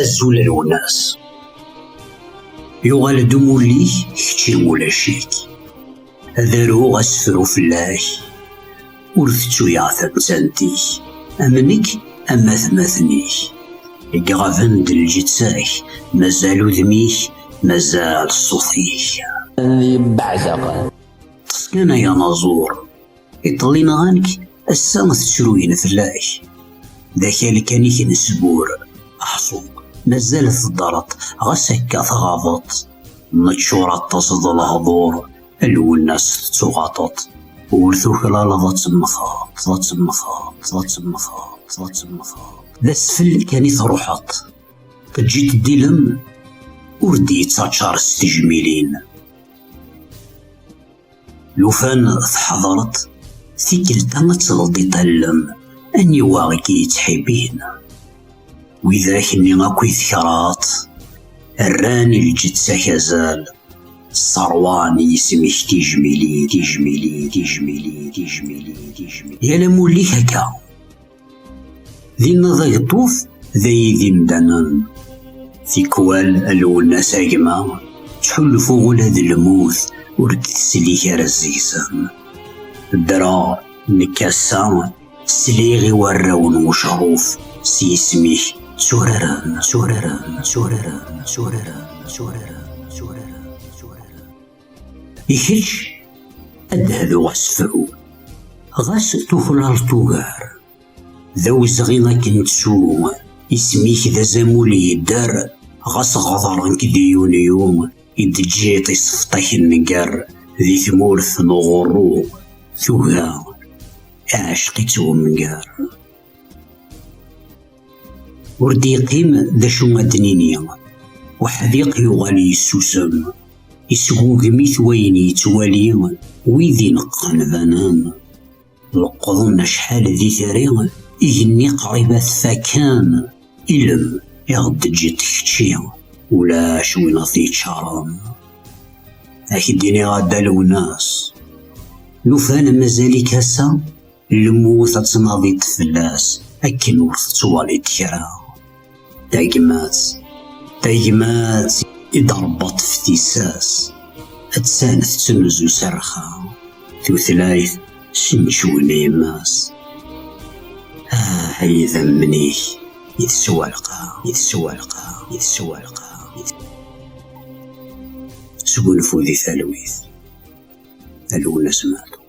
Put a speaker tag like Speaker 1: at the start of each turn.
Speaker 1: Azul a Lwennas. Yuɣal-d umulli-k, kečči ulac-ik. Ad aruɣ asefru fell-ak. Ur tettuyaɣ tamettant-ik. Am nekk, am atmaten-ik. I iɣaben-d lǧetta-k, mazal udem-ik, mazal ṣṣut-ik. Ad iyi-beɛdeɣ.
Speaker 2: Ṭṭef
Speaker 1: kan ay anaẓur. Iḍelli nɣan-k, ass-a tettruyen fell-ak. D akal kan i k-nesbur. Ḥṣu, mazal teddreḍ, ɣas akka tɣabeḍ. Neččur aṭas d lehḍur, Lwennas tettuɣaṭeḍ. Ur tuklaleḍ ad temmteḍ, ad temmteḍ, ad temmteḍ, ad temmteḍ. D asfel kan i truḥeḍ. Teǧǧiḍ-d ilem ur d-yettaččar s tejmilin. Lufan teḥḍer-d tikkelt-a ad tleḍ i tallem aniwa i k-yettḥibin. Widak-nni akk i tekraḍ rran i lǧetta-k azal, sseṛwan yisem-ik tijmilin, tijmilin, tijmilin, tijmilin, tijmilin. Yal amulli-k akka, D innaḍ ageṭṭuf d ayid imdanen. Tikwal a Lwennas a gma, ttḥulfuɣ ula d lmut ur d-teslik ara seg-sen. Ddreɣ nekk ass-a sliɣ i warraw n ucehruf s yisem-ik tturaren, tturaren, tturaren, tturaren, tturaren. I kečč, ad d-hduɣ asefru, ɣas tuklaleḍ ugar. D awezɣi ad k-nettu, isem-ik d azamul yedder, ɣas ɣedren-k di yunyu, i d-teǧǧiḍ isefṭak nnger di tmurt n uɣurru, tuga iɛecq-itt wemger. Ur d-yeqqim d acu ad d-nini. Uḥdiq yuɣal yessusem. Isgugem-it wayen yettwali, wid ineqqen banen. Leqqḍen acḥal d itri, igenni qrib ad t-fakken. Ilem i ɣ-d-teǧǧiḍ kečči, ulac win ad t-yeččaren. Ak-d-iniɣ a Dda Lewnas, lufan mazal-ik ass-a Lmut ad tnaḍiḍ fell-as akken ur tettwaliḍ kra. Tagmat, tagmat i d-rebbaḍ teftisas, attan tettnuzu s rrxa, tutlayt ssencewen yemma-s. Ah, ay idammen-ik i teswalqa, i teswalqa, i teswalqa. Sgunfu di talwit, a Lwennas Maɛtub.